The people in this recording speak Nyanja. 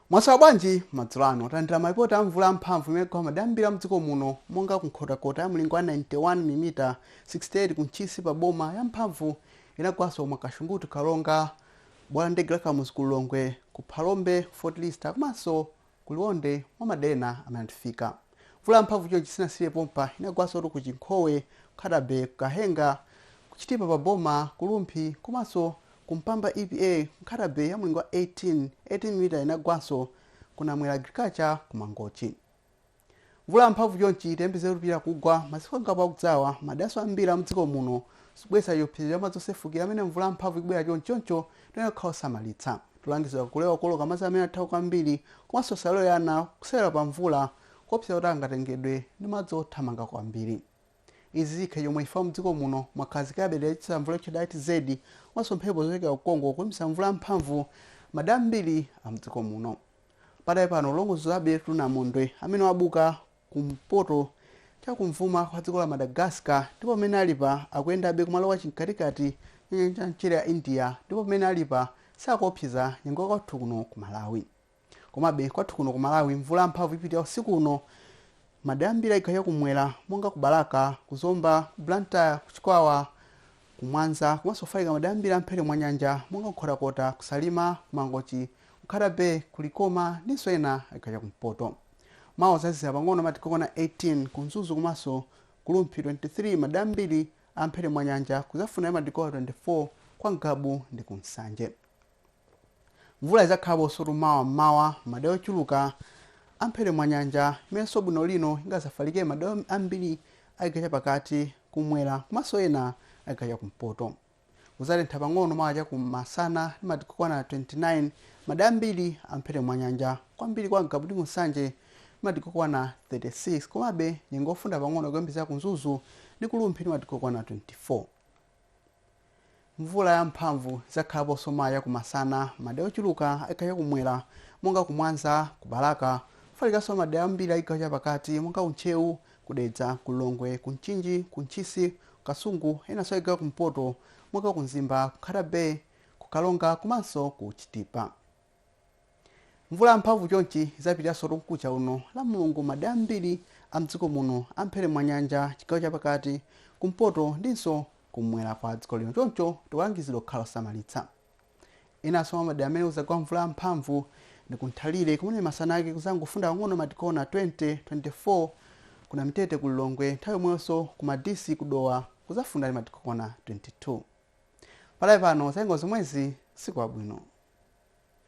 mwaswera bwanji madzulo ano talandira malipoti a mvula yamphamvu imene yagwa madera ambiri a mdziko muno monga kunkhotakota ya mlingo wa 91 milimita 68 kuntchisi pa boma yamphamvu inagwanso mwakashunguti ku karonga bwalo la ndege la kamuzu ku lilongwe ku phalombe fort lister komanso Ku Liwonde, mwa madera ena amene anatifika, mvula yamphamvu chonchi sinasiyire pompa, inagwansotu ku Chinkhowe, Nkhata-Bay, ku Kahenga, ku Chitipa pa Boma, ku Rumphi, komanso ku Mpamba EPA ku Nkhata-Bay ya mlingo wa 18, 18 milimita inagwanso ku Namwera Agriculture ku Mangochi. Mvula yamphamvu chonchi tiyembekezere kupitirira kugwa masiku angapo akudzawa maderanso ambiri a m'dziko muno zikubweretsa chiopsezo cha madzi osefukira pamene mvula yamphamvu ikubwera chonchi choncho tiyenera kukhala osamalitsa. Tikulangiza kulewa kuoloka madzi amene athamanga kwambiri komanso tisalole ana kusewera pa mvula kuopseza kuti angatengedwe ndi madzi othamanga kwambiri. Izi zikhala chomwechi chifukwa mdziko muno mwakhazikikabe dera lochititsa mvula lotchedwa ITCZ komanso mphepo zochokera ku Congo kuyambitsa mvula yamphamvu madera ambiri a mdziko muno. Padakali pano tikulondolozabetu namondwe amene wabuka kumpoto chakumvuma kwa dziko la Madagascar ndipo pamene alipa akuyendabe kumalowa chimkatikati cha nyanja ya mchere ya India ndipo pamene alipa sakuopseza nyengo kwathu kuno ku Malawi. Komabe, kwathu kuno ku Malawi mvula yamphamvu ipitirira usiku uno madera ambiri a chigawo chakumwera monga ku Balaka, ku Zomba, ku Blantyre, ku Chikwawa, ku Mwanza komanso kufalikira madera ambiri a m'mphepete mwa nyanja monga ku Nkhotakota, ku Salima, ku Mangochi, ku Nkhata Bay, ku Likoma ndinso ena a chigawo chakumpoto. Mawa kudzazizira pang'ono madigiri okwana 18, ku Mzuzu komanso ku Rumphi 23, madera ambiri a m'mphepete mwa nyanja kudzafunda ndi madigiri okwana 24 kwa Ngabu ndi ku Nsanje. Mvula idzakhalaponsotu mawa m'mawa m'madera ochuluka a m'mphepete mwa nyanja, imenenso bwino lino ingadzafalikire m'madera ambiri a chigawo chapakati, kumwera komanso ena a chigawo chakumpoto. Kudzatentha pang'ono mawa chakumasana ndi madigiri okwana 29 m'madera ambiri a m'mphepete mwa nyanja, kwambiri kwa Ngabu ndi ku Nsanje ndi madigiri okwana 36. Komabe, nyengo yofunda pang'ono ikuyembekezeka ku Mzuzu ndi ku Rumphi ndi madigiri okwana 24. Mvula ya mphamvu idzakhalaponso mawa chakumasana m'madera ochuluka a chigawo chakumwera monga ku Mwanza, ku Balaka, kufalikanso m'madera ambiri a chigawo chapakati monga ku Ntcheu, ku Dedza, ku Lilongwe, ku Mchinji, ku Ntchisi, ku Kasungu, enanso a chigawo chakumpoto monga ku Mzimba, ku Nkhata Bay, ku Karonga komanso ku Chitipa. mvula yamphamvu chonchi idzapitiranso mkucha uno lamulungu madera ambiri a mdziko muno a mphere mwa nyanja chigawo chapakati kumpoto ndinso kumwera kwa dziko lino choncho tikulangizidwa kukhala osamalitsa enanso mwa madera amene kudzagwa mvula yamphamvu ndi ku nthalire kumene masana ake kudzangofunda pang'ono matikona 20 24 ku namitete ku lilongwe nthawi yomweyonso ku madisi kudowa kudzafunda ndi matikona 22 panali pano zangozomwezi tsiku labwino